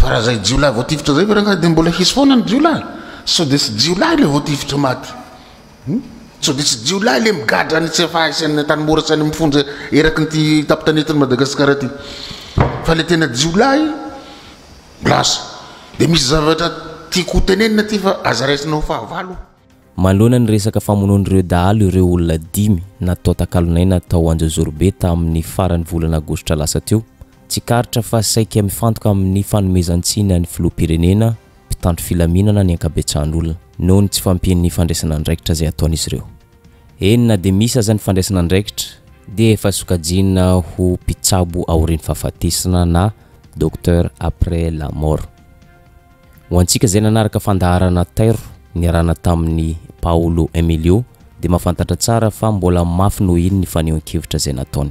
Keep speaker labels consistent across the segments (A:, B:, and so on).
A: Fa raha zay jiolahy voatifitra zay ve rangahy de mbola hisy foana ny jiolahy? Sao de tsy jiolahy le voatifitra maty? Hum? Sao de tsy jiolahy le migadra any CFA sy any Antanimora sy any amin'ny fonja eraky ny ty tapitany eto Madagasikara ty? Fa le tena jiolahy lasa. De misy zavatra tiako hotenenina ty fa aza raisinao fahavalo. Manoloana ny
B: resaka famonoan'ireo dahalo ireo olona dimy natao takalon'aina tao Anjozorobe tamin'ny faran'ny volana Aogositra lasa teo. Tsikaritra fa saika mifantoka amin'ny fanomezan-tsiny an'ny filoham-pirenena, mpitandro filaminana ny ankabetsahan'olona, noho ny tsy fampian'ny fandraisana andraikitra izay ataon'izy ireo. Eny na dia misy aza ny fandraisana andraikitra, dia efa sokajiana ho mpitsabo aorian'ny fahafatesana na docteur après la mort. Ho antsika izay nanaraka fandaharana Tairo niarahana tamin'i Paolo Emilio dia mahafantatra tsara fa mbola mafy noho iny ny fanehoan-kevitra izay nataony.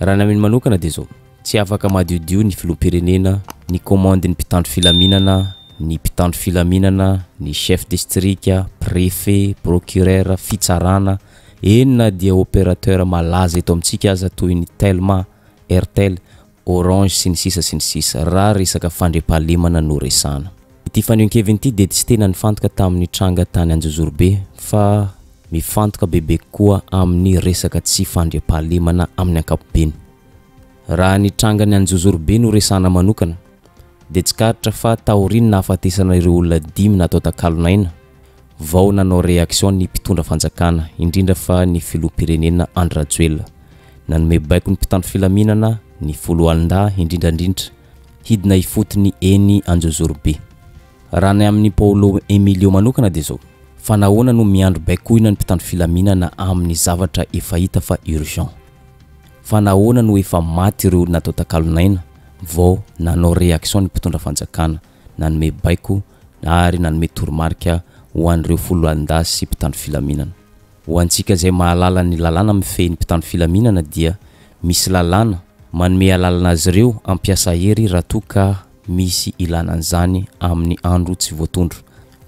B: Raha ny amin manokana dia izao, tsy afaka madiodio ny filoham-pirenena, ny komandin'ny mpitandro filaminana, ny mpitandro filaminana, ny chef distrika, prefet, procureur, fitsarana, eny na dia operateur malaza eto amintsika aza toy ny Telma, Airtel, orange sy ny sisa sy ny sisa raha resaka fandriampahalemana no resahana. Ity fanehoan-keviny ity dia tsy tena nifantoka tamin'ny tranga tany Anjozorobe fa mifantoka bebe kokoa amin'ny resaka tsy fandriampahalemana amin'ny ankapobeny. Raha ny trangan'i Anjozorobe no resahana manokana dia tsikaritra fa taorian'ny nahafatesana ireo olona dimy natao takalon'aina, Vao nanao réaction ny mpitondra fanjakana, indrindra fa ny filoham-pirenena Andry Rajoelina. Nanome baiko ny mpitandro filaminana, ny foloalindahy indrindrandrindra, hidina ifotony eny Anjozorobe. Raha ny amin'i Paolo Emilio manokana dia izao, fa nahoana no miandry baikoina ny mpitandro filaminana amin'ny zavatra efa hita fa urgent? Fa nahoana no efa maty ireo olona atao takalon'aina vao nanao réaction ny mpitondra fanjakana? nanome baiko ary nanome toromarika ho an'ireo foloalindahy sy mpitandro filaminana. Ho antsika izay mahalala ny lalàna mifehy ny mpitandro filaminana dia misy lalàna manome alalana azy ireo hampiasa hery raha toa ka misy ilana an'izany amin'ny andro tsy voatondro.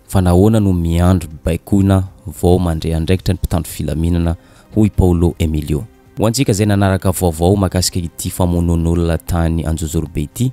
B: Fa nahoana no miandry baikoina vao mandre andraikitra ny mpitandro filaminana, hoy Paolo Emilio. Ho antsika izay nanaraka vaovao mahakasika ity famonoan'olona tany Anjozorobe ity,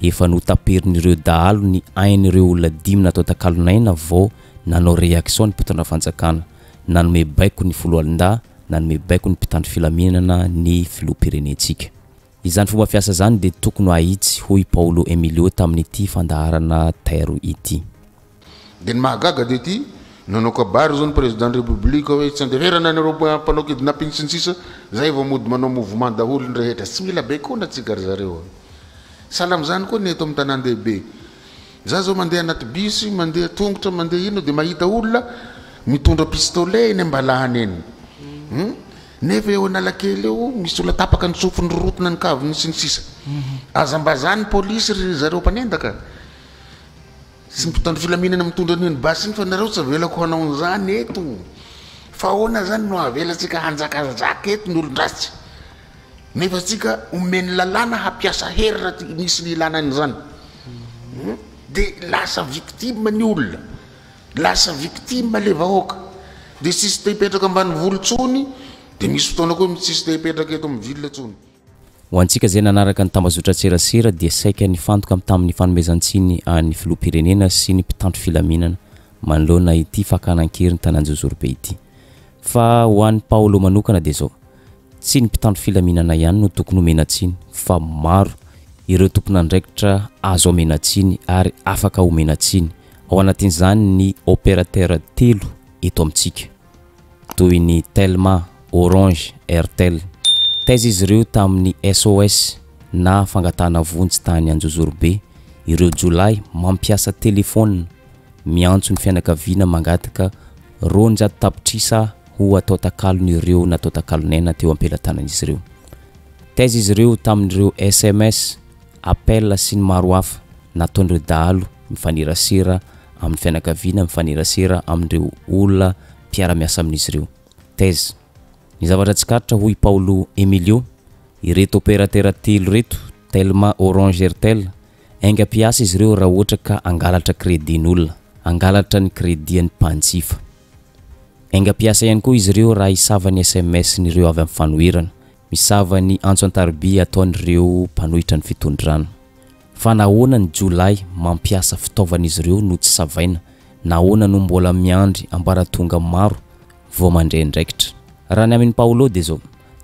B: efa notaperin'ireo dahalo ny ain'ireo olona dimy natao takalon'aina vao nanao reaction ny mpitondra fanjakana, nanome baiko ny foloalindahy, nanome baiko ny mpitandro filaminana ny filoham-pirenentsika. Izany fomba fiasa izany dia tokony ho ahitsy, hoy Paolo Emilio tamin'ity fandaharana Tairo ity. Dia ny
A: mahagaga dia ity, nanao kabary izao ny Président République hoe tsy andeferana anareo mpanao kidnapping sy ny sisa, zay vao mody manao mouvement daholo ny rehetra, tsy mila baikona tsika ry zareo a! Sahala amin'izany koa ny eto amin'ny tanàn-dehibe, za zao mandeha anaty bus, mandeha tongotra, mandeha inona dia mahita olona mitondra pistolet eny am-balahany eny hum! nefa eo Analakely eo misy olona tapaka ny sofiny rorotina ny kaviny sy ny sisa, aza mba zany polisy ry zareo mpanendaka. Tsy mpitandro filaminana mitondra an'io ny basy iny fa nareo tsy avelako hanao an'izany eto fa ahoana izany no havelantsika hanjakanjaka eto ny olon-dratsy nefa antsika omen'ny lalàna hampiasa hery raha ti- misy ny ilana an'izany Hmm? dia lasa victime ny olona lasa victime le vahoaka dia tsisy te hipetraka ambany volo tsony dia misy fotoana koa tsisy te hipetraka eto amin'ny ville tsony Ho antsika izay
B: nanaraka ny tambazotran-tserasera dia saika nifantoka amin'ny tamin'ny fanomezan-tsiny an'ny Filoham-pirenena sy ny mpitandro filaminana manoloana ity fakana an-keriny tany Anjozorobe ity. Fa ho an'i Paolo manokana dia izao, tsy ny mpitandro filaminana ihany no tokony homena tsiny fa maro ireo tompon'andraikitra azo amena tsiny ary afaka omena tsiny, ao anatin'izany ny opérateur telo eto amintsika. toy ny Telma, Orange, Airtel. Taiza izy ireo tamin'ny SOS na fangatahana vonjy tany Anjozorobe, ireo jiolahy mampiasa telefaonina miantso ny fianakaviana mangataka roanjato tapitrisa ho atao takalon'ireo natao takalonaina teo am-pelatanan'izy ireo? Taiza izy ireo tamin'ireo sms, appel sy ny maro hafa nataon'ireo dahalo mifanerasera amin'ny fianakaviana, mifanerasera amin'ireo olona mpiara-miasa amin'izy ireo. Thèse. Ny zavatra tsikaritra hoy i Paulo Emilio, ireto opérateur telo ireto, Telma, Orange, Airtel, enga mpiasa izy ireo raha ohatra ka hangalatra crédit-n'olona, hangalatra ny crédit-an'ny mpanjifa. Enga mpiasa ihany koa izy ireo raha hisava ny sms-n'ireo avy amin'ny fanoherana, Misava ny antso an-tariby ataon'ireo mpanohitra ny fitondrana. Fa nahoana ny jiolahy mampiasa fitaovan'izy ireo no tsy savaina? Nahoana no mbola miandry ambaratonga maro vao mandre andraikitra? Raha ny amin'i Paolo dia izao,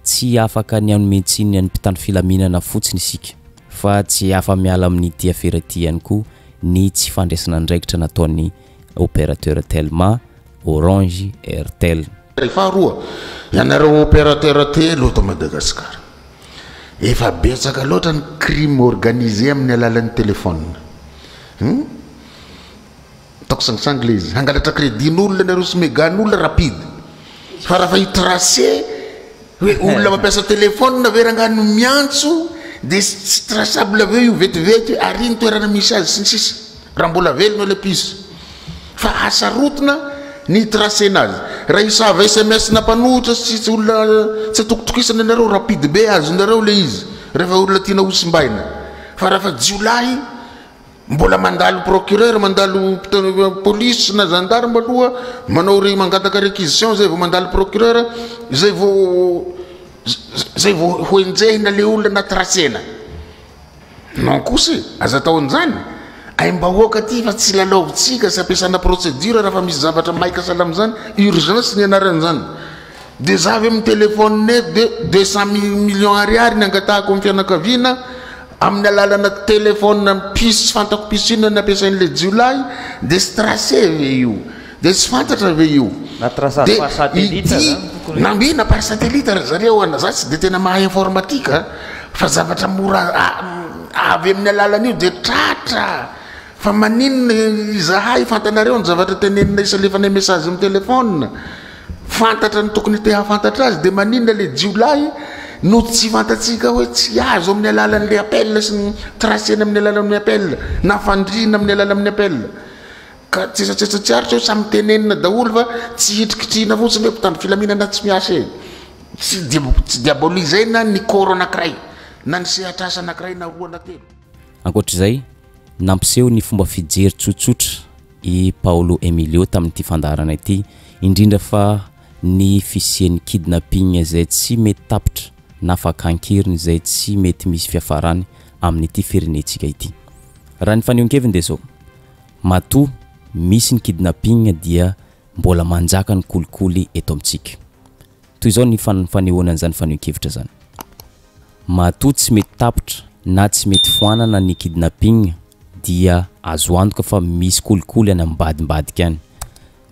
B: Tsy afaka ny hanome tsiny ny an'ny mpitandro filaminana fotsiny isika, fa tsy afa-miala amin'ity afera ity ihany koa ny tsy fandraisana andraikitra nataon'ny opérateur telma, orange, airtel. Faharoa,
A: ianareo opérateur telo eto Madagasikara, efa betsaka loatra ny crime organisé amin'ny alalan'ny téléphone. Hum. Ataoko sangisangy ilay izy. Hangalatra crédit-n'olona ianareo sy mega-n'olona rapide. Fa raha fa i tracer. Hoe olona mampiasa telephone ve rangah no miantso de tsy traçable avy eo io vetivety hoe aria ny toerana misy azy sy ny sisa raha mbola velona ilay piso fa hasarotina ny hitracena azy raha hisava sms na mpanohitra sy tsy olona tsy atokotokisana ianareo rapide be azonareo ilay izy rehefa olona tiana hosimbaina fa raha fa jiolahy Mbola mandalo procureur, mandalo police na gendarme aloha, manao re mangataka réquisition zay vao mandalo procureur, zay vao zay vao ho enjehina le olona anaty ratsena. Non kosa e, aza atao an'izany. Aim-bahoaka ty fa tsy lalaovintsika, tsy ampiasana procédure raha fa misy zavatra maika sahala amin'izany, urgence ny anaran'izany. Dia za avy amin'ny telephone eto dia deux cent mille millions ariary ny angatahako amin'ny fianakaviana amin'ny alalana telephone mpisy tsy fantako mpisy inona ny ampiasain'ilay jiolahy dia tsy tracer ve io dia tsy fantatra ve io Na tracer dia par satellite ity zany tokony ho na izy. mihina par satellite ry zareo an za tsy dia tena mahay informatique a fa zavatra mora a- avy amin'ny alalan'io dia tratra fa maninona izahay fantanareo ny zavatra tenenina isalefanay message amin'ny telephone Fantatra ny tokony te hahafantatra azy dia maninona ilay jiolahy no tsy fantatsika hoe tsy azo amin'ny alalan'ny appel sy ny tracena amin'ny alalan'ny appel na fandriana amin'ny alalan'ny appel ka tsetsatsetsa tsy aritra hoe samy tenenina daholo fa tsy hitrikitrihina fotsiny hoe mpitandro filaminana tsy miasa e tsy tsy diabolisaina ny koro anankiray na ny sehatrasa anankiray na roa na telo. Ankoatra izay,
B: nampiseho ny fomba fijery tsotsotra i Paolo Emilio tamin'ity fandaharana ity, indrindra fa ny fisian'ny kidnapping izay tsy mety tapitra na fakan-keriny izay tsy mety misy fiafarany amin'ity firenentsika ity. Raha ny fanehoan-keviny dia izao, matoa misy ny kidnapping dia mbola manjaka ny kolikoly eto amintsika. Toy izao ny fanehoana an'izany fanehoan-kevitra izany. Matoa tsy mety tapitra na tsy mety foanana ny kidnapping dia azo antoka fa misy kolikoly any ambadimbadika any.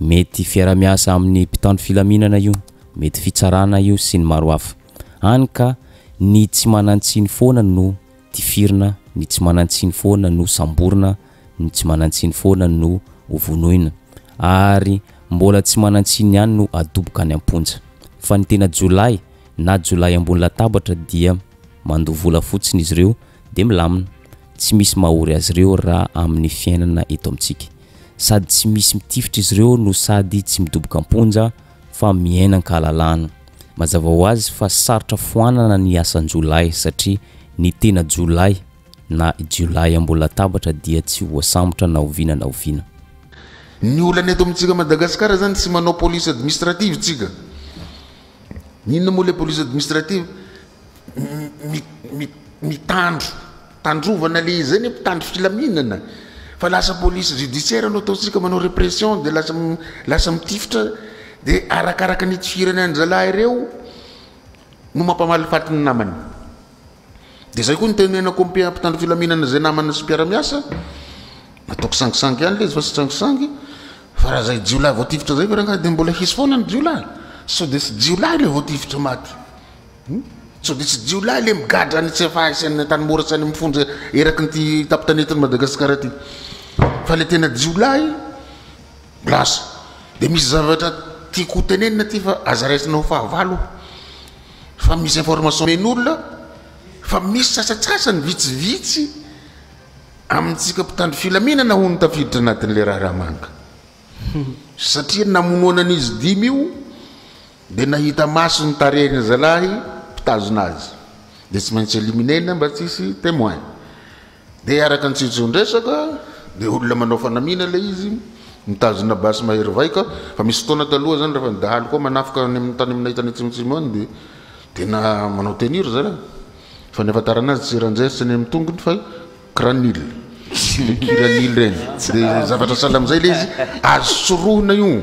B: Mety fiarahamiasa amin'ny mpitandro filaminana io, mety fitsarana io sy ny maro hafa. Hany ka ny tsy manantsiny foana no tifirina, ny tsy manantsiny foana no samborina, ny tsy manantsiny foana no hovonoina. Ary mbola tsy manantsiny ihany no adoboka any am-ponja. Fa ny tena jiolahy, na jiolahy ambony latabatra dia mandoa vola fotsiny izy ireo dia milamina, tsy misy mahory azy ireo raha amin'ny fiainana eto amintsika. Sady tsy misy mitifitra izy ireo no sady tsy midoboka am-ponja fa miaina an-kahalalahana. Mazava ho azy fa sarotra foanana ny asan-jiolahy satria ny tena jiolahy na jiolahy ambony latabatra dia tsy voasambotra na oviana na oviana. Ny
A: olana eto amintsika Madagasikara izany tsy manao police administrative tsika. Inona moa ilay police administrative? Mitandro tandrovana le izay ny mpitandro filaminana fa lasa police judiciaire no ataontsika manao répression dia lasa lasa mitifitra dia arakaraka ny itifiran'ny anjalahy ireo no mampamalifaty ny namany. Dia izay koa no tenenako amin'ny mpitandro filaminana izay namana sy mpiara-miasa, ataoko sangisangy ihany ilay izy fa tsy sangisangy, fa raha izay jiolahy voatifitra izay ve rangahy dia mbola hisy foana ny jiolahy? Sao dia tsy jiolahy ilay voatifitra maty? Hmm? Sao dia tsy jiolahy ilay migadra any Tsefaha sy any Antanimora sy any amin'ny fonja eraky ny ty tampon-tanetin'i Madagasikara ity? Fa ilay tena jiolahy lasa. Dia misy zavatra tiako ho tenenina aty fa aza raisina ho fahavalo. fa misy information omen'olona fa misy sasatsasany vitsivitsy amintsika mpitandro filaminana hono tafiditra anatin'ilay raharaha manga satria ny namonoana an'izy dimy io dia nahita maso ny tarehin'ny zalahy mpitazona azy dia tsy maintsy éliminer-na mba tsy hisy témoin Dia araka ny tsijondresaka dia olona manao fanamiana ilay izy, mitazona basy mahery vaika, fa misy fotoana taloha izany rehefa ny dahalo koa manafika any amin'ny tany aminay tany atsimotsimo any dia tena manao tenue ry zareo, fa ny ahafantarana azy tsy rangers tsy ny amin'ny tongony fa kiranil, ny kiranil ireny, dia zavatra sahala amin'izay ilay izy, azo sorohina io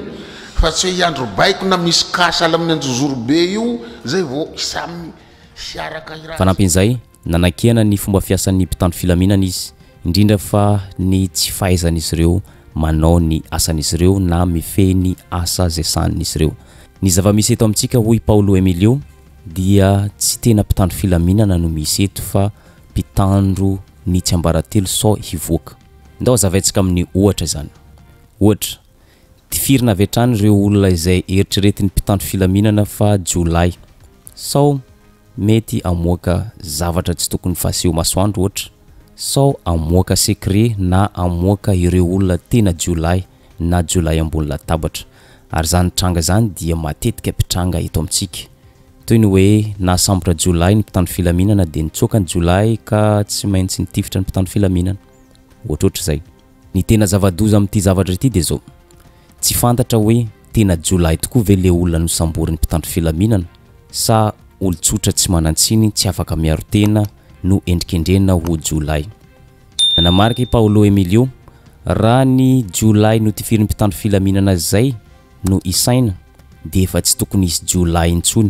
A: fa tsy hoe hiandry baiko na misy cas sahala amin'ny anjozorobe io izay vao samy hiaraka hiraza. Fanampin'izay,
B: Nanakihana ny fomba fiasan'ny mpitandro filaminana izy, indrindra fa ny tsy fahaizan'izy ireo manao ny asan'izy ireo na mifehy ny asa izay sahanin'izy ireo. Ny zava-misy eto amintsika, hoy i Paolo Emilio, dia tsy tena mpitandro filaminana no misy eto fa mpitandro ny tsiambaratelo sao hivoaka. Ndao hazavaintsika amin'ny ohatra izany. Ohatra, Tifirina avy hatrany ireo olona izay eritreretin'ny mpitandro filaminana fa jiolahy. Sao mety hamoaka zavatra tsy tokony fahaseho masoandro ohatra, sao hamoaka secret na hamoaka ireo olona tena jiolahy na jiolahy ambony latabatra. Ary izany tranga izany dia matetika mpitranga eto amintsika. Toy ny hoe nahasambotra jiolahy ny mpitandro filaminana dia nitsoaka ny jiolahy ka tsy maintsy nitifitra ny mpitandro filaminana. Ohatrohatr'izay. Ny tena zava-doza amin'ity zavatra ity dia zao, tsy fantatra hoe tena jiolahy tokoa ve le olona nosamborin'ny mpitandro filaminana sa olon-tsotra tsy manan-tsiny tsy afaka miaro tena no endrikendrehina ho jiolahy. Nanamarika i Paolo Emilio, raha ny jiolahy notifirin'ny mpitandro filaminana izay no isaina dia efa tsy tokony hisy jiolahy intsony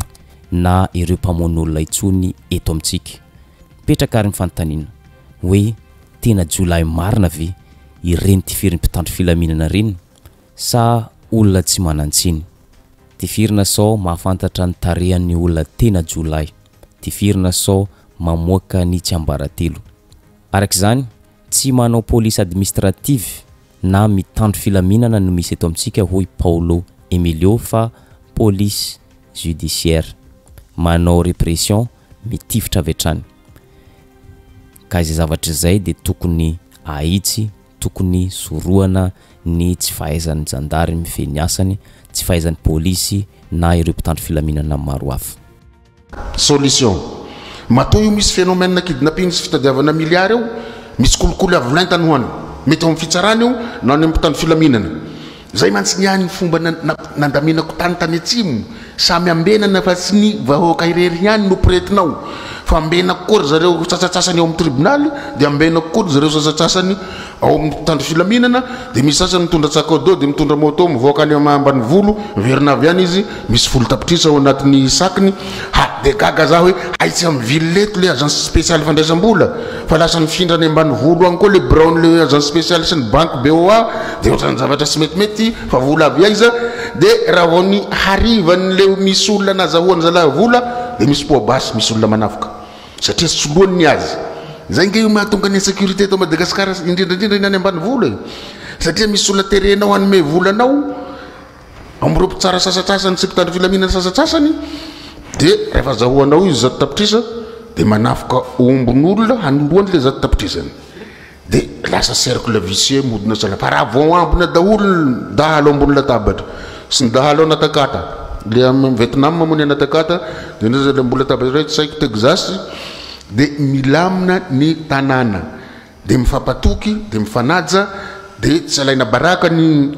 B: na ireo mpamono olona intsony eto amintsika. Mipetraka ary ny fanontaniana, hoe tena jiolahy marina ve ireny tifirin'ny mpitandro filaminana reny sa olona tsy manantsiny? Tifirina sao mahafantatra ny tarehan'ny olona tena jiolahy, tifirina sao mamoaka ny tsiambaratelo. Araka izany, tsy manao police administrative na mitandro filaminana no misy eto amintsika hoy Paolo Emilio fa police judiciaire. Manao repression mitifitra avy hatrany. Ka izay zavatra izay dia tokony ahitsy, tokony sorohana ny tsy fahaizan'ny zandary mifehy ny asany, tsy fahaizan'ny polisy na ireo mpitandro filaminana maro hafa. Solution.
A: Matoa io misy phénomène kidnapping sy fitadiavana milliards io, misy kolikoly avo lenta no any. Mety ao amin'ny fitsarana io na any amin'ny mpitandro filaminana. Zay mantsy ny ahy ny fomba nandaminako tany tany atsimo, samy ambenana fa tsy ny vahoaka irery ihany no pretinao fa ambenako koa ry zareo sasatsasany ao amin'ny tribonaly dia ambenako koa ry zareo sasatsasany ao amin'ny mpitandro filaminana dia misy sasany mitondra tsakado dia mitondra moto mivoaka any ambanivolo miverina avy any izy Misy folo tapitrisa ao anatin'ny sakiny ha de gaga za hoe hay tsy am ville eto le agence speciale fandraisam-bola fa lasa mifindra any ambanivolo any koa le biraon'le agence speciale sy ny banky BOA de ohatran'ny zavatra tsy metimety fa vola avy aiza de raha vao ny harivan'le misy olona nazahoan'ny zalahy vola de misy poa basy misy olona manavoka satria soloany ny azy zay nge io mahatonga ny insécurité eto Madagascar indrindra indrindra ny any ambanivolo e satria misy olona terenao hanome vola anao Amin'ireo mpitsara sasatsasany sy mpitandro filaminana sasatsasany dia rehefa azahoanao izy zato tapitrisa dia manafoka ombin'olona hanoroany ilay zato tapitrisany. Dia lasa cercle vicieux modina saina fa raha vao ambina daholo ny dahalo ambony latabatra sy ny dahalo anatakata le amin'ny Vietnam moa ny anatakata dia ny mbola latabatra iray tsy sahiko Texas dia milamina ny tanàna. dia mifampatoky, dia mifanaja, dia tsy alaina baraka ny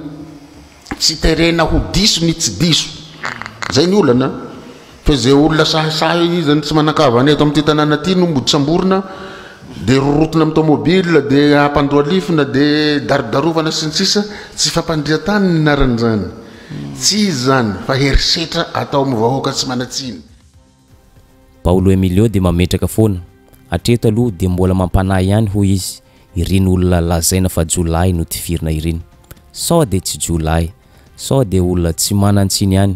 A: tsy terena ho diso ny tsy diso. Izay ny olana. Fa izay olona sahisahy izany tsy manan-kavana eto amin'ity tanàna ity no mody samborina, dia rorotona amin'ny taomôbila, dia ampandohalifina, dia darodarovana sy ny sisa Tsy fampandrian-tany ny anaran'izany. Tsy izy izany fa herisetra atao amin'ny vahoaka tsy manan-tsiny.
B: Paolo Emilio dia mametraka foana, Hatreto aloha dia mbola mampanahy ihany hoy izy ireny olona lazaina fa jiolahy notifirina ireny. Sao dia tsy jiolahy, sao dia olona tsy manan-tsiny ihany.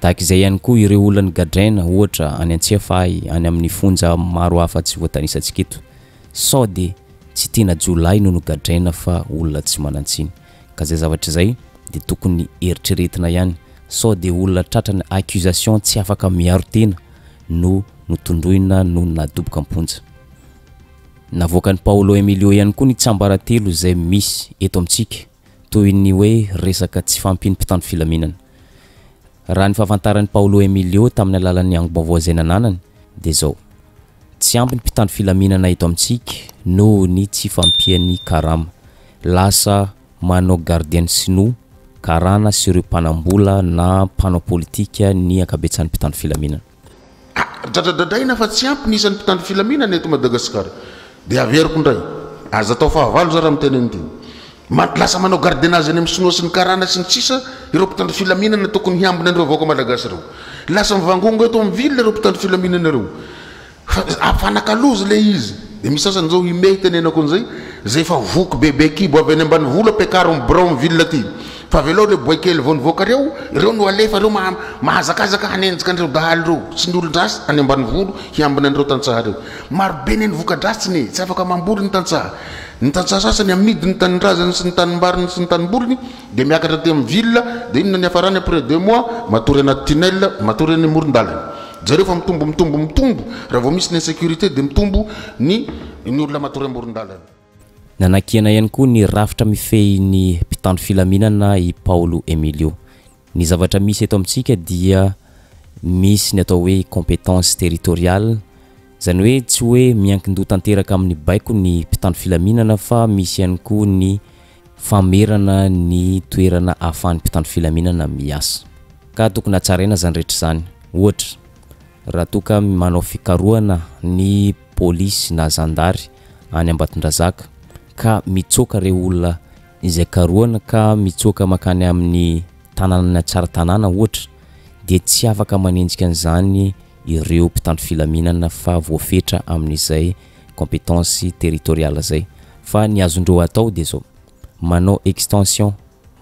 B: Tahaka izay ihany koa ireo olona nigadraina ohatra any Antsiafahy any amin'ny fonja maro hafa tsy voatanisantsika eto. Sao dia tsy tena jiolahy no nogadraina fa olona tsy manan-tsiny. ka zay zavatra izay dia tokony eritreretina ihany sao dia olona tratran'ny accusation tsy afaka miaro tena no notondroina no nadoboka am-ponja. Navoakan'i Paolo Emilio ihany koa ny tsiambaratelo izay misy eto amintsika toy ny hoe resaka tsy fahampian'ny mpitandro filaminana. Raha ny fahafantaran'i Paolo Emilio tamin'ny alalan'ny angom-baovao izay nananany dia izao. Tsy ampy ny mpitandro filaminana eto amintsika noho ny tsy fampian'ny karama. Lasa manao gardienne sinoa, karana sy ireo mpanam-bola na mpanao politika ny ankabetsahan'ny mpitandro filaminana. Ka
A: dradradradraina fa tsy ampy ny isan'ny mpitandro filaminana eto Madagasikara. Dia averiko indray, aza atao fahavalo za raha miteny an'itony. Mando lasa manao gardiennage any amin'ny sinoa sy ny karana sy ny sisa ireo mpitandro filaminana tokony hiambina an'ireo vahoaka malagasy ireo. Lasa mivangongo eto amin'ny ville ireo mpitandro filaminana ireo fa afanakalozy ilay izy dia misy sasany izao ime hitenenako an'izay izay efa voky bebe kibo avy any ambanivolo ampiakarin'ny birao ny ville aty fa avelao ireo boay kely vao nivoaka ireo ireo no alefa ireo maha mahazakazaka hanenjika an'ireo dahalo ireo sy ny olon-dratsy any ambanivolo hiambina an'ireo tantsaha ireo marobe ny any voka-dratsiny tsy afaka mamboly ny tantsaha Ny tantsaha sasany amidy ny tanindrazany sy ny tanimbariny sy ny tanimboliny dia miakatra aty amin'ny ville dia inona ny hafarany après deux mois matory anaty tunnel matory eny amoron-dalana. Jereo fa mitombo mitombo mitombo raha vao misy ny insecurite dia mitombo ny ny olona matory amoron-dalana. Nanakiana
B: ihany koa ny rafitra mifehy ny mpitandro filaminana i Paolo Emilio. Ny zavatra misy eto amintsika dia misy ny atao hoe compétence territoriale, izany hoe tsy hoe miankin-doha tanteraka amin'ny baiko ny mpitandro filaminana fa misy ihany koa ny famerana ny toerana ahafahan'ny mpitandro filaminana miasa. Ka tokony hatsaraina izany rehetra izany. Ohatra, raha toa ka manao fikarohana ny polisy na zandary any Ambatondrazaka ka mitsoaka ireo olona izay karohina ka mitsoaka mankany amin'ny tanànan'i Antsaratanàna ohatra dia tsy afaka manenjika an'izany ireo mpitandro filaminana fa voafetra amin'izay compétence territoriale izay fa ny azondreo atao dia izao manao extension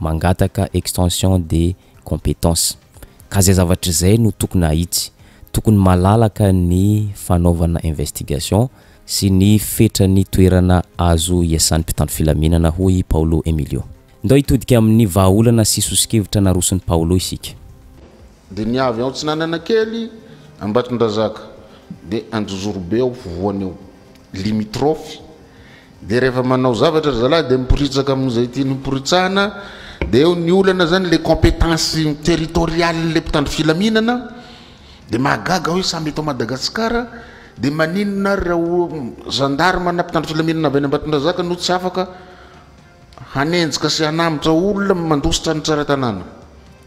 B: mangataka extension dia compétence. Ka izay zavatra izay no tokony hahitsy. Tokony malalaka ny fanaovana investigation sy ny fetran'ny toerana azo iasan'ny mpitandro filaminana, hoy i Paolo Emilio. Ndao hitodika amin'ny vahaolana sy soso-kevitra naroson'i Paolo isika. Dia ny
A: avy ao Atsinanana Kely, Ambatondrazaka, dia Anjozorobe ao Fovoana eo, limitrophes, Dia rehefa manao zavatra ry zalahy dia miporitsaka amin'izay tiany hoporitsahana dia eo ny olana izany ilay compétence territoriale-n'ilay mpitandro filaminana dia mahagaga hoe samy eto Madagasikara dia maninona ary raha gendarme na mpitandro filaminana avy any Ambatondrazaka no tsy afaka hanenjika sy hanambotra olona mandositra ny tsara tanàna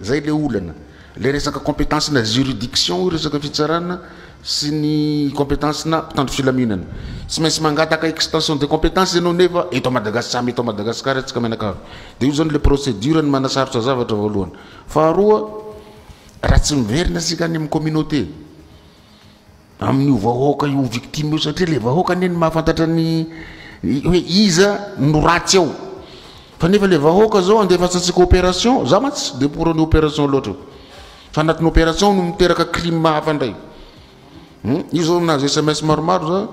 A: Zay le olana. Le resaka competence na juridiction io resaka fitsarana sy ny competence na mpitandro filaminana. Tsy maintsy mangataka extension de competence ianao nefa eto a Madagascar tsy amin eto a Madagascar atsika mianakavy. De io zany le procedure ny manasarotra zavatra voalohany. Faharoa raha tsy miverina tsika any am communauté. amin'io vahoaka io victime io satria le vahoaka anie no mahafantatra ny hoe iza no ratsy ao fa nefa le vahoaka zao andefasantsika opération za mantsy tsy de pour ny opération loatra io fa anatin'ny opération no miteraka crime hafa ndray io zao nahazo sms maromaro za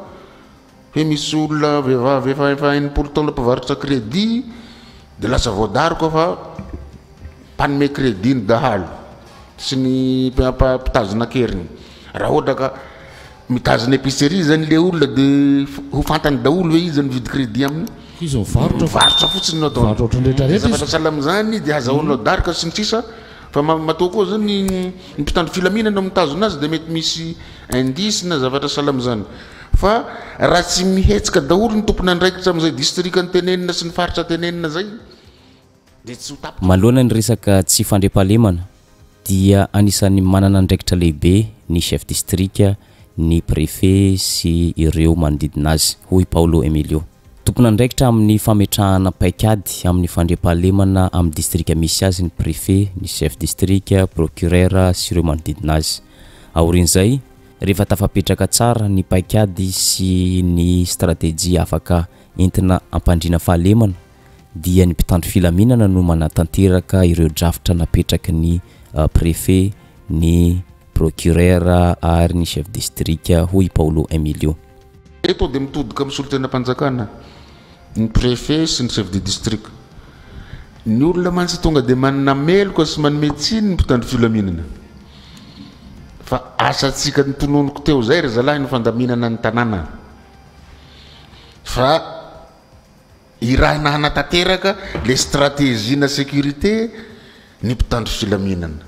A: Hoe misy olona vehivavy efa efa enimpolo taona mpivarotra crédit dia lasa voadaroka fa mpanome crédit ny dahalo sy ny mpitazona an-keriny. Raha ohatra ka mitazona épicerie izany ilay olona dia ho fantany daholo ve izy mividy crédit aminy? Izy mivarotra.
C: Mivarotra fotsiny no ataony. Mivarotra ohatran'ny
A: rehetra rehetra izy. Zavatra sahala amin'izany dia azahoanao daroka sy ny sisa. Fa matoa koa zany ny mpitandro filaminana no mitazona azy dia mety misy indice na zavatra sahala amin'izany. Fa raha tsy mihetsika daholo ny tompon'andraikitra amin'izay distrika tenenina sy ny faritra tenenina izay dia tsy ho tapitra. Manoloana ny resaka
B: tsy fandriampahalemana dia anisan'ny manana andraikitra lehibe ny chef distrika, ny préfet sy ireo manodidina azy, hoy Paolo Emilio. Tompon'andraikitra amin'ny fametrahana paikady amin'ny fandriampahalemana amin'ny distrika misy azy ny prefe, ny chef distrika, prokirera sy ireo manodidina azy. Aorian'izay, rehefa tafapetraka tsara ny paikady sy ny stratejia afaka entina ampandriana fahalemana dia ny mpitandro filaminana no manatanteraka ireo drafitra napetraky ny prefe, ny prokirera ary ny chef distrika, hoy i Paolo Emilio. Eto dia
A: mitodika amin'ny solontenam-panjakana ny Préfet sy ny Chef de District. Ny olona mantsy tonga dia manana meloka sy manome tsiny ny mpitandro filaminana. Fa asantsika notononiko teo izay ry zalahy ny fandaminana ny tanàna. Fa. Irahina hanatanteraka ilay stratejina sécurité ny mpitandro filaminana.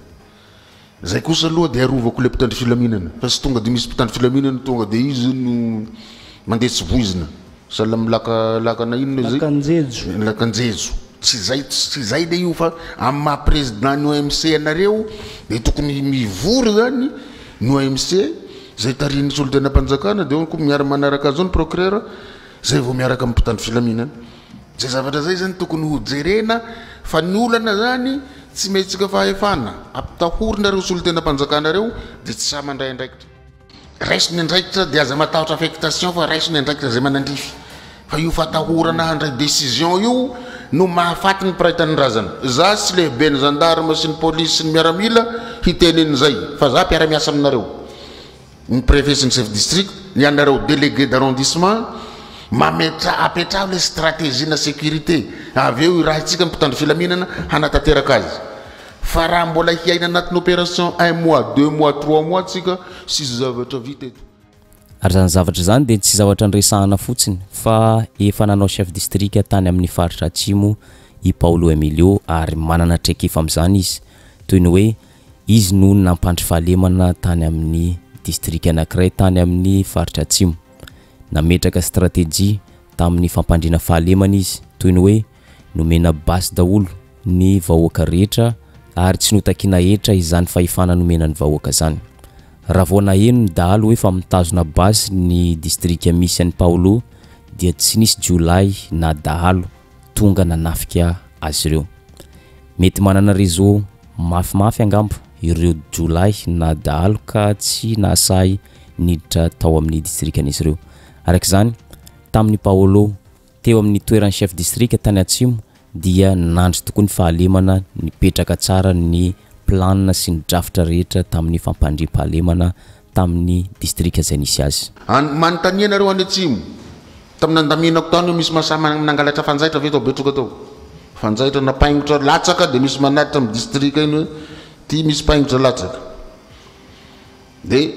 A: Izay kosa aloha dia arovako ilay mpitandro filaminana fa tsy tonga dia misy mpitandro filaminana tonga dia izy no mandeha tsy voizina. Sahala amin'ny laka laka na inona izay. Lakanjejo. Lakanjejo. Tsy izay tsy izay ilay io fa amin'ny maha président ny OMC anareo dia tokony mivory izany ny OMC izay tarihin'ny solontenam-panjakana dia ao koa miara-manaraka an'izao ny procureur Zay vao miaraka amin'ny mpitandro filaminana. Zay zavatra zay zany tokony ho jerena fa ny olana zany tsy mihetsika fahefana ampitahorina reo solontenam-panjakana reo de tsy sahy mandray andraikitra. Raiso ny andraikitra de aza matahotra affectation fa raiso ny andraikitra zay manandrify fa io fatahorana handray decision io no mahafaty ny mpiray tanindrazana. Za tsy lehiben'ny gendarme sy ny police sy ny miaramila hitenen'izay fa za mpiara-miasa aminareo. ny prefet sy ny chef district ny anareo deleguer d'arrondissement mametraha apetraho ilay strategie na sécurité avy eo irahintsika ny mpitandro filaminana hanatanteraka azy fa raha mbola hiaina anatin'ny opération un mois deux mois trois mois tsika sisy zavatra vita eto Ary izany
B: zavatra izany dia tsy zavatra niresahana fotsiny fa efa nanao chef district tany amin'ny faritra atsimo i Paolo Emilio ary manana traikefa amin'izany izy toy ny hoe Izy no nampandry fahalemana tany amin'ny distrika anankiray tany amin'ny faritra Atsimo. Nametraka stratejia tamin'ny fampandriana fahalemana izy, toy ny hoe nomena basy daholo ny vahoaka rehetra ary tsy notakiana hetra izany fahefana nomena ny vahoaka izany. Raha vao naheno ny dahalo hoe fa mitazona basy ny distrika misy an'i Paolo dia tsy nisy jiolahy na dahalo tonga nanafika azy ireo. Mety manana réseau mafimafy angamba ireo jiolahy na dahalo ka tsy nahasahy niditra tao amin'ny distrikan'izy ireo. Araka izany, tamin'i Paolo, teo amin'ny toeran'ny chef distrika tany Atsimo, dia nandry tokoa ny fahalemana, nipetraka tsara ny plan sy ny drafitra rehetra tamin'ny fampandriam-pahalemana tamin'ny distrika izay nisy azy. Any, manontania ianareo any
A: atsimo, tamin'ny nandaminako tany hoe misy mahasahy manangalatra fanjaitra ve tao Betroka tao? Fanjaitra na paingotra latsaka dia misy manatitra amin'ny distrika iny hoe ity misy paingotra latsaka. Dia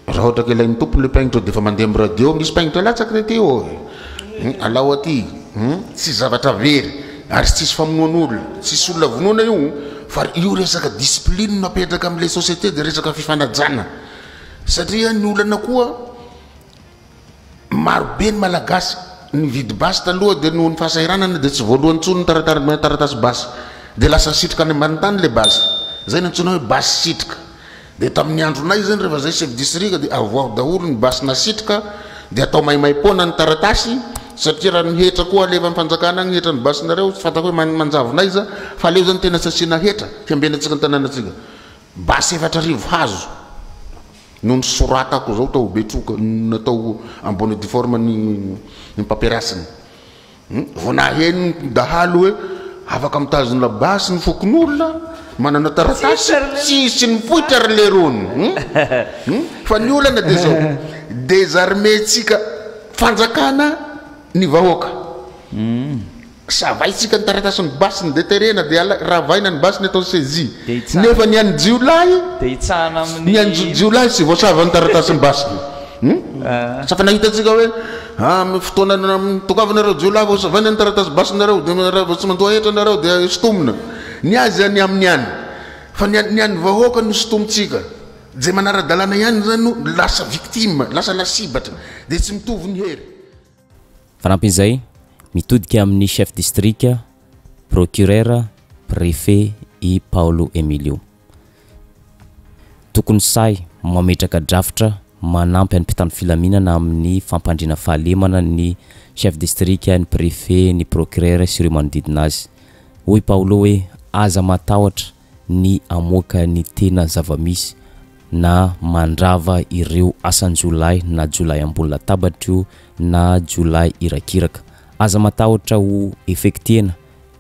A: raha ohatra ka ilain'ny tompony ilay paingotra dia efa mandeha amin'ny radio, misy paingotra latsaka taty ô e! Alao aty! Tsy zavatra very. Ary tsisy famonoan'olona, tsisy olona vonoina io fa io resaka discipline no apetraka amle société de resaka fifanajana satria ny olana koa maro be ny malagasy nividy basy taloha de nohon'ny fahasahiranana de tsy voalohany tsony taratasy basy de lasa sitrika any ambany tany le basy zay no antsoina hoe basy sitrika Dia tamin'ny andronay izany rehefa izay chef district dia avoaho daholo ny basy nasitrika dia atao maimaimpoana ny taratasy satria raha ny hetra koa alefan'ny fanjakana agny ny hetra ny basinareo tsy fantako hoe man- manjavona aiza fa aleo zany tena tsy asiana hetra fiambenantsika ny tanànatsika basy efatra arivo hazo no nisoratako zao tao Betroka natao en bonne et due forme ny ny paperasiny Vao naheno ny dahalo hoe afaka mitazona basy ny fokonolona manana taratasy, tsisy nipoitra ry Lerony. Fa ny olana dia izao, désarmer-tsika fanjakana ny vahoaka. Savaintsika ny taratasin'ny basiny dia terena dia ravaina ny basiny atao saisie. Nefa ny an'ny jiolahy, ny an'ny jiolahy tsy voasava ny taratasin'ny basiny. Sa fa nahitantsika hoe. Amin'ny fotoana tokavinareo jiolahy vao savaina ny taratasy basinareo dia raha vao tsy mandoa hetra nareo dia sintomina. Ny azy any aminy any fa ny an ny an ny vahoaka no sintomintsika. Izay manara-dalàna ihany izany no lasa victime, lasa lasibatra. Dia tsy mitovy ny hery. Fanampin'izay,
B: mitodika amin'ny chef district, procureur, préfet i Paolo Emilio. Tokony sahy mametraka drafitra manampy an'ny mpitandro filaminana amin'ny fampandriana fahalemana ny Chef Distrika, ny Préfet, ny Procureur sy ireo manodidina azy. Hoy Paolo hoe, Aza matahotra ny hamoaka ny tena zava-misy na mandrava ireo asan-jiolahy na jiolahy ambony latabatro na jiolahy irakiraka. Aza matahotra ho effectiena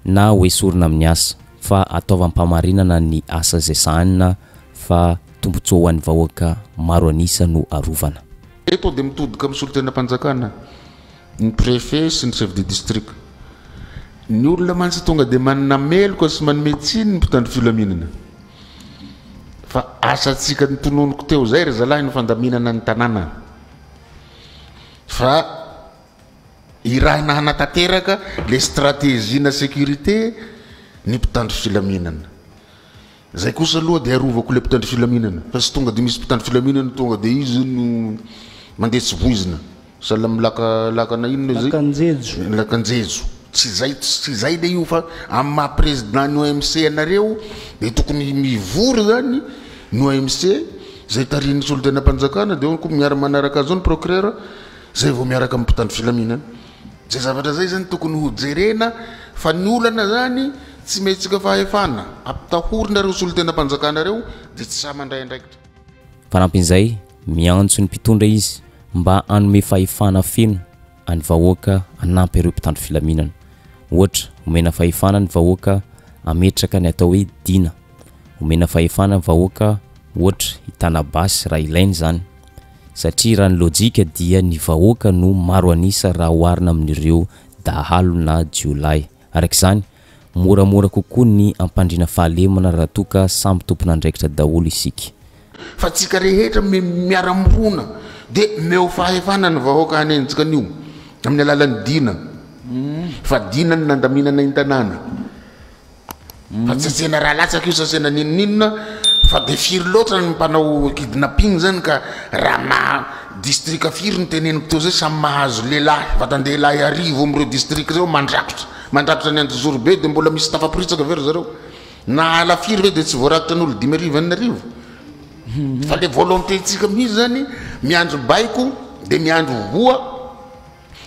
B: na hoesorina amin'ny asa fa ataovam-pamarinana ny asa izay sahanina fa tombontsoa ho an'ny vahoaka maro an'isa no arovana. Eto dia mitodika
A: amin'ny solontenam-panjakana ny Préfet sy ny Chef de District. Ny olona mantsy tonga dia manana meloka sy manome tsiny ny mpitandro filaminana. Fa asantsika notononiko teo izay ry zalahy ny fandaminana ny tanàna fa. Irahina hanatanteraka ilay stratejina sécurité ny mpitandro filaminana. Izay kosa aloha dia arovako ilay mpitandro filaminana fa tsy tonga dia misy mpitandro filaminana tonga dia izy no mandeha tsy voizina. Sahala amin'ny laka, lakana inona izay? Lakanjejo. Lakanjejo. Tsy izay, tsy izay ilay io fa amin'ny maha président ny OMC anareo dia tokony mivory izany ny OMC izay tarihin'ny solontenam-panjakana dia ao koa miara-manaraka an'izao ny procureur Zay vao miaraka amin'ny mpitandro filaminana. Zay zavatra zay zany tokony ho jerena fa ny olana zany tsy mihetsika fahefana ampitahorina reo solontenam-panjakana reo de tsy sahy mandray andraikitra. Fanampin'izay,
B: miantso ny mpitondra izy mba hanome fahefana feno an'ny vahoaka hanampy ireo mpitandro filaminana. Ohatra, omena fahefana ny vahoaka hametraka ny atao hoe Dina. Omena fahefana ny vahoaka ohatra hitana basy raha ilaina izany. satria raha ny lojika dia ny vahoaka no maro an'isa raha oharina amin'ireo dahalo na jiolahy. Araka izany, moramora kokoa ny hampandriana fahalemana raha toa ka samy tompon'andraikitra daholo isika. Fa tsika
A: rehetra miara-mirona dia meo fahefana ny vahoaka hanenjika an'io amin'ny alalan'ny dina, fa dina ny nandaminana ny tanàna. Fa tsy asena raha latsaka io sasena n'inon'inona fa dia firy loatra ny mpanao kidnapping zany ka raha maha distrika firy ny teneniko teo zay samy mahazo lehilahy vatan-dehilahy arivo amin'ireo distrika ireo mandrakotra mandrakotra ny Anjozorobe dia mbola misy tafaporitsaka ve ry zareo na ala firy ve dia tsy voarakitra ny olo-dimy arivo enina arivo fa le volonté-ntsika mihitsy zany miandry baiko dia miandry voa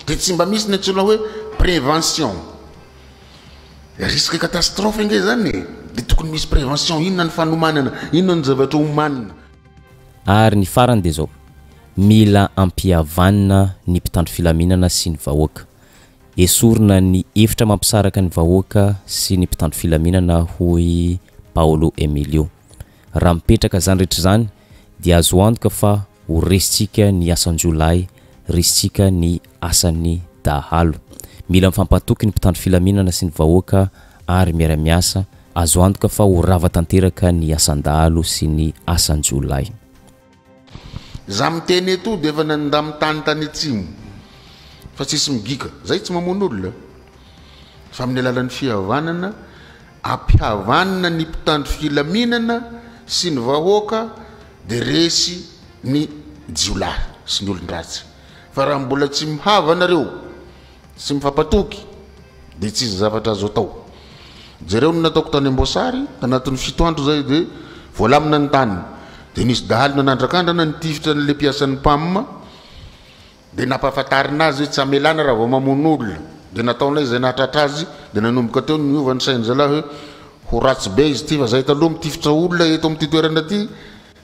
A: dia tsy mba misy ny antsoina hoe prévention Risque catastrophe ange zany e! De tokony misy prévention, inona ny fanomanana, inona ny zavatra omanina. Ary
B: ny farany de zao, mila ampihavanina ny mpitandro filaminana sy ny vahoaka. Esorina ny efitra mampisaraka ny vahoaka sy ny mpitandro filaminana hoy Paolo Emilio. Raha mipetraka izany rehetra izany dia azo antoka fa ho resintsika ny asan-jiolahy, resintsika ny asan'ny dahalo. Mila mifampatoky ny mpitandro filaminana sy ny vahoaka ary miara-miasa, azo antoka fa ho rava tanteraka ny asan-dahalo sy ny asan-jiolahy.
A: Za miteny eto dia efa nandamy tany tany atsimo fa tsisy migika zay tsy mamono olona fa amin'ny alalan'ny fihavanana ampihavanina ny mpitandro filaminana sy ny vahoaka dia resy ny jiolahy sy ny olon-dratsy fa raha mbola tsy mihava nareo sy mifampatoky dia tsy izy zavatra azo atao. Jereo ny nataoko tany Amboasary, tanatin'ny fito andro izay dia voalamina ny tany. Dia nisy dahalo nanandrakandrana nitifitra an'ilay mpiasan'ny Pam dia nampahafantarina azy hoe tsy hamelana raha vao mamono olona. Dia nataonay izay nahatratra azy dia nanomboka teo ny niova ny sain'ny zalahy hoe ho ratsy be izy ity fa izahay taloha mitifitra olona eto amin'ity toerana ity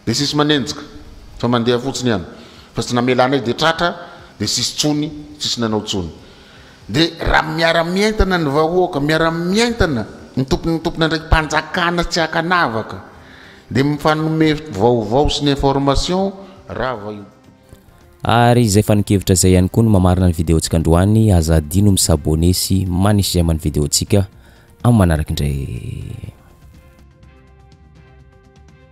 A: Dia tsisy manenjika fa mandeha fotsiny ihany fa tsy namela anay dia tratra dia tsisy tsony tsisy nanao tsony dia raha miara mientana ny vahoaka miara mientana ny tompony ny tompony andraiki panjakana tsy akanavaka dia mifanome vaovao sy ny information rava io. Ary
B: izay fanin-kevitra izay ihany koa no mamarina ny video ntsika androany, aza adino mi s'abonner sy manisy j'aime ny video ntsika amin'ny manaraka indray.